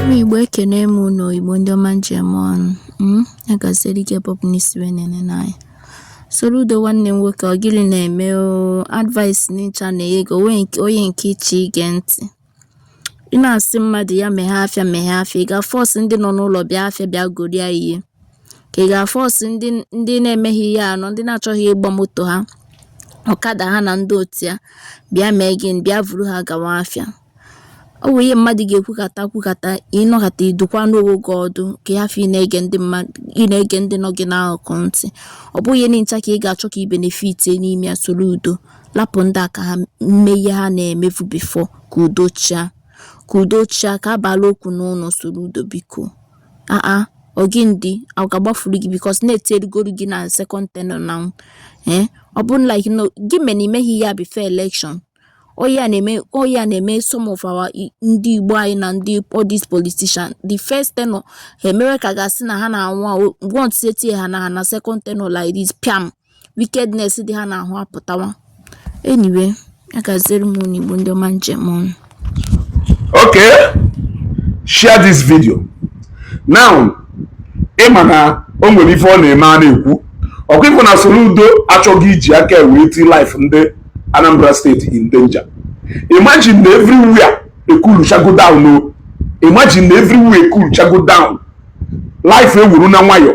ụmụ igbo ekene m unu Igbo ndị ọma m ji eme ọnụ hmm? ya gaziri ike pọpụ n'isi wee nene n'anya Soludo nwanne m nwoke ọ gịnị na-eme advice nincha na ego onye nke iche ige ntị Ị na-asị mmadụ ya meghee afịa meghee afịa, ị ga-force ndị nọ n'ụlọ bịa afịa bịa golia ihe? Ka ị ga-force ndị ndị na-emeghị ihe anọ, ndị na-achọghị ịgba moto ha, ọkada ha na ndị otu ya bịa mee gịnị? Bịa vuru ha gawa afịa. Ọ bụ ihe mmadụ ga-ekwukata kwukata ị nọkata ị dụkwanụ onwe gị ọdụ ka ị hafụ ị na-ege ndị mmadụ ị na-ege ndị nọ gị n'akụkụ ntị. Ọ bụghị ihe nincha ka ị ga-achọ ka ị benefit n'ime ya Soludo Lapụ ndị a ka ha mee ihe ha na-emebu before ka udo chịa. Ka udo chịa, ka a bala okwu n'ụlọ Soludo biko. Aa, ọ gịnị dị, ọ ga-agbafuru gị because na etirigoro gị na second tenure now ee ọ bụrụ like na ọ gị mere i meghị ya before election ọ ya na-eme ọ ya na-eme some of our i- ndị Igbo anyị na ndị all these politician the first tenure ha emewe ka ị ga-asị na ha na-anwa anwa once e tie ha na ha na second tenure like this pịam wickedness dị ha n'ahụ apụtawa anyway ya gaziere m unu igbo ndị ọma m ji eme ọnụ okay share this video now ị ma na o nwere ife ọ na-eme a na-ekwu ọkwa ị fụ na Soludo achọghị iji aka wee ti life ndị Anambra State in danger imagine na everywhere ekuluchago down o imagine na everywhere ekuluchago down life ewuru na nwayọọ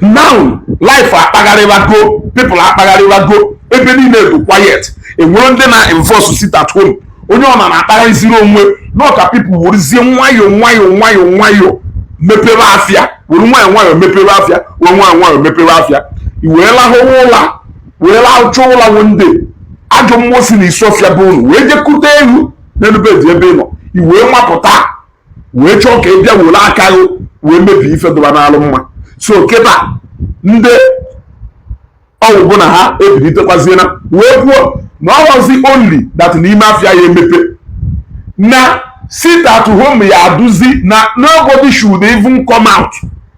now life akpagharịwago people akpagharịwago ebe niile dụ quiet e nwere ndị na-enforce sit at home onye ọna na-akpagharịziri onwe na ka people werezie nwayọọ nwayọọ nwayọọ nwayọọ mepere afịa were nwayọọ nwayọọ mepere afịa were nwayọọ nwayọọ mepere afịa i wee lahụwa ụla wee lahụcha ụla one day ajọ mmụọ si na Isuofia be unu wee jekute gị n'elu bed ebe ị nọ i wee mapụta wee chọọ ka ị bịa were aka gị wee mebie ife dụba n'alụ mma so kịta ndị ọwụ bụ na ha ebilitekwaziela wee kwuo na ọ họzi only that n'ime afịa ya emepe na sit at home ya-adụzi na nobody should even come out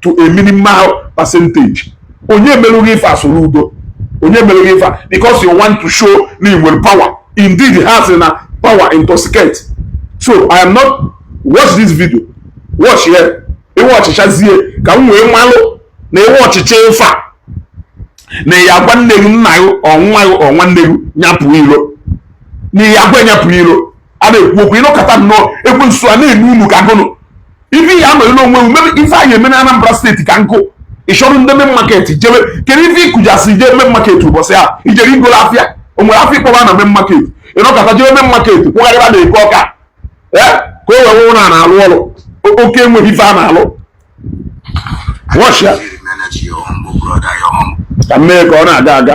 to a minimal percentage onye meru gị ife a Soludo onye meru gị ife because you want to show na ị nwere power indeed ha sị na power intoxicate so i am not watch this video watch ya ị watchichazie ka m wee malụ na ị watchicha ife a na ị ya-agwa nne gị nna gị ọ nwa gị ọ nwanne gị nyapụ iro na ị ya-agwa nyapụ iro a na-ekwu okwu ị nọkata nnọọ ekwensu a na-enu unu aka gụnụ ife ya mere n'onwe ewu mebe ife anyị eme na Anambra steeti ka nke ị chọrọ ndị main market jebe kedu ife ịkụjasị ije main market ụbọchị a i jere i goro afịa o nwere afịa ị kpọba na main market ị nọkata jebe main market kwụgharịba na eke ọka ee ka o wee wụrụ na na-alụ ọrụ oke o nweghị ife a na-alụ ka mee ka ọ na-aga aga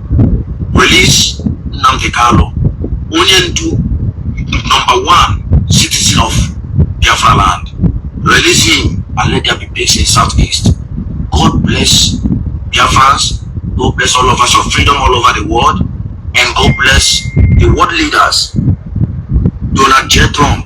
release Nnamdi Kanu onye ndu number one citizen of Biafra land release him and let there be peace in southeast God bless Biafrans God bless all of us of freedom all over the world and God bless the world leaders Donald J Trump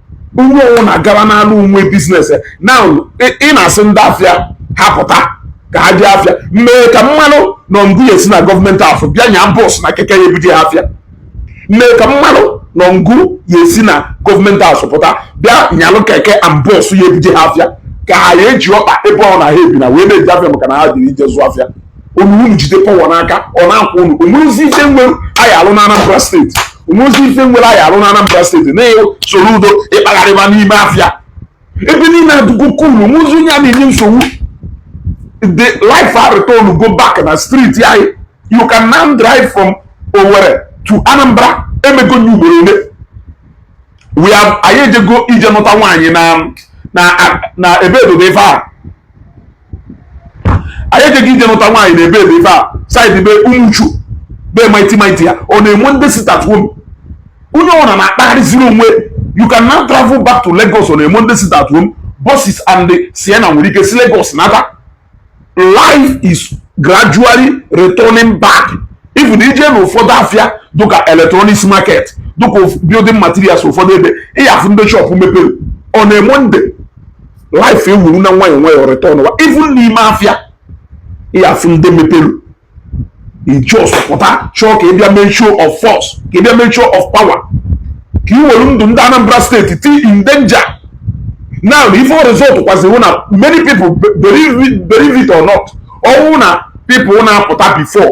onye ọ wụ na-agara n'ala onwe biznes na ị na-asị ndị afịa ha pụta ka ha je afịa mee ka m malụ na ọ ngụ ya esi na gọọmenti house bịa nya bọs na keke ya ebuje ha afịa mee ka m malụ na ọ ngụ ya esi na gọọmenti house apụta bịa nyalụ keke and bọs ya ebuje ha afịa ka ha ya eji ọkpa ebe ọ na ha ebi na wee na-eje afịa maka na ha dị ije zụ afịa unu unu jide power n'aka ọ na-akwụ unu o nwerozi ife nwere anyị alụ na Anambra steeti o nwezi ife nwere anyị arụ na Anambra steeti na Soludo ị kpagharịba n'ime afịa ebe niile adụgo cool o nwezi onye a na-enye nsogbu life a returngo back na street anyị you can now drive from Owerri to Anambra emego ya ugboro ole we have anyị ejego ije nụta nwaanyị na na ebe edodo ife a anyị ejego ije nụta nwaanyị na ebe ebe ife a side be Umuchu be Mighty Mighty on a Monday sit at home onye ọbụla na-akpagharịziri onwe you can now travel back to Lagos on a Monday sit at home buses and the Sienna nwere ike si Lagos nata life is gradually returning back even i je na ụfọdụ afịa dịka electronics market dịka building materials ụfọdụ ebe ị ya-afụ ndị shop mepere on a Monday life ewuru na nwayọọ nwayọọ returnwa even n'ime afịa ị ya-afụ ndị mepere ị just pụta chọọ ka ị bịa mee show of force ka ị bịa mee show of power ka ị were ndụ ndị Anambra steeti ti in danger now na ife result kwaziri na many people believe it or not ọ wụ na people na-apụta before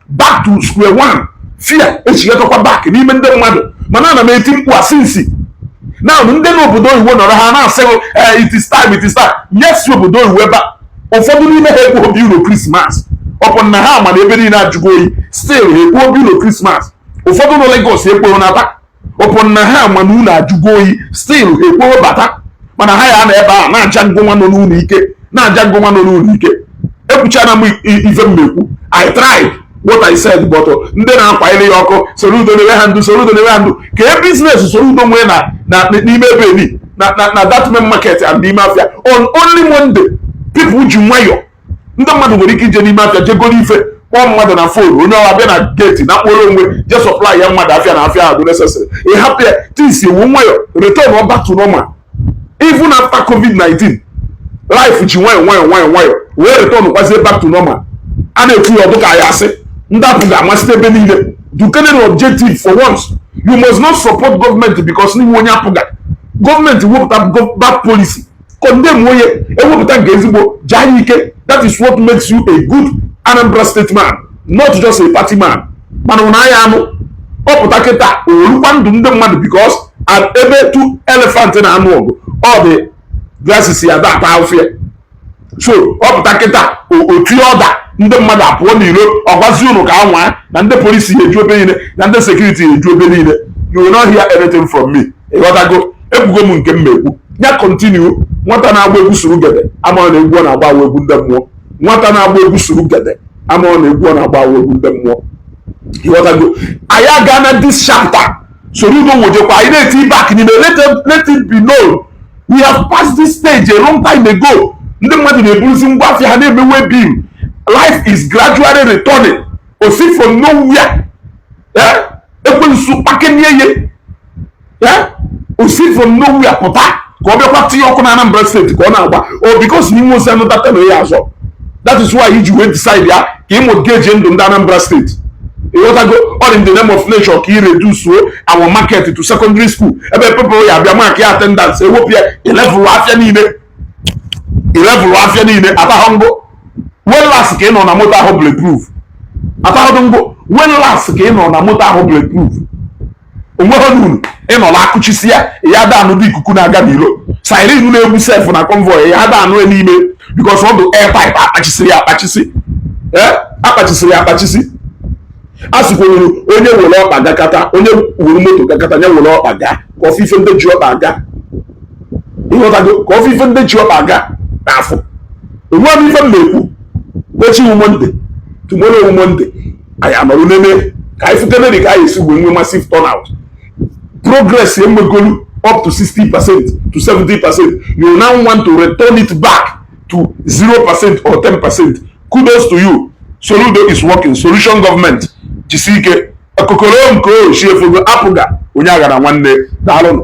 back to square one fear echighatakwa back n'ime ndị mmadụ mana ana m eti mkpu a since na ndị nọ obodo oyibo nọrọ ha na-asị eh, it is time it is time yes obodo oyibo ebe a ụfọdụ n'ime ha ekwero bịa ụlọ krismas upon na ha ma na ebe niile ajụgo oyi still ha ekwero bịa ụlọ krismas ụfọdụ nọ Lagos ekwero naba upon na ha ma na ụnọ ajụgo oyi still ha ekwero bata mana ha ya-anọ ebe a na-aja ngụ nwa nọ n'ụlọ ike na-aja ngụ nwa nọ n'ụlọ ike ekwuchana m ife m na-ekwu i tried what i said but uh, ndị na-akwanyere ya ọkụ Soludo na-ewe ha ndụ Soludo na-ewe ha ndụ kee biznes Soludo nwee na n'ime ebe ni na that main market and n'ime afia on only monday people ji nwayọọ ndị mmadụ nwere ike ije n'ime afịa je goro ife kpọọ mmadụ na phone onye ọwa bịa na gate na kpọrọ onwe je supply ya mmadụ afịa na afịa dụ necessary ị hapụ ya things ewu nwayọ return ọ back to normal even after covid-19 life ji nwayọ nwayọ nwayọ nwayọ wee return kwazie back to normal a na-ekwu ya ọ dụ ka ya asị ndị APGA amasị ebe niile dụkenenụ objective for once you must not support government because na ị wụ onye APGA government wepụta bad policy condemnụọ ya ewepụta nke ezigbo jaa ya ike that is what makes you a good Anambra state man not just a party man mana ụnụ aya anụ ọ pụta kịta orukwa ndụ ndị mmadụ because ebe two elephant na-anụ ọgụ ọ the grasses ya da ata afịa so ọ pụta kịta otu ọda ndị mmadụ apụọ n'iro ọ gwazi ụnụ ka anwa na ndị police ya eju ebe niile na ndị security ya eju ebe niile you will not hear anything from me ịghọtago ekwugo m nke m na-ekwu ya continue nwata na-agba egwu surugede amaọ na egwu ọ na-agba egwu ndị mmụọ nwata na-agba egwu surugede amaọ na egwu ọ na-agba egwu ndị mmụọ ịghọtago anyị agaana this chapter soludo wojekwa anyị na-eti back n'ime let it be known we have passed this stage a long time ago ndị mmadụ na-eburuzi ngwa afịa ha na-emewe bim life is gradually returning o si from nowhere eh? ekwensu kpakenye ye o si from nowhere pụta ka ọ bịakwa tinye ọkụ na Anambra state ka ọ na-agba ọ because na i nwe osi anụ data na ya azọ that is why i ji wee decide ya ka ịmụ geji ndụ ndị Anambra state ịghọtago all in the name of na ị chọ ka ị reduce our market to secondary school ebe people ya abịa mark ya attendance ewepụ ya ị levelụọ afịa niile ị levelụọ afịa niile atahụ m gụ when last ka ị nọ na moto awụ bulletproof atahụ m gụ when last ka ị nọ na moto awụ bulletproof o nweghị n'uru ị nọ na akụchisi ya ya ada anụdị ikuku na-aga n'ilo siren na-egbu sef na convoy ya ada anụ n'ime because ọ dụ air tight akpachisiri ya akpachisi eh? akpachisiri ya akpachisi a sịkwuru onye were ọkpa gakata onye were moto gakata onye were ọkpa ga ka ọ fụ ife ndị ji ọkpa aga ịghọtago ka ọ fụ ife ndị ji ọkpa aga na-afụ o nweghị ife m na-ekwu echi wụ monday tomorrow wụ monday anyị anọrọ nene ka anyị fụkenedị ka a ya esi wee nwee massive turnout progress emegolu up to 60 percent to 70 percent you now want to return it back to 0 percent or 10 percent kudos to you soludo is working solution government jisi ike okokorokoo chi efogo APGA onye aghana nwanne daalụnụ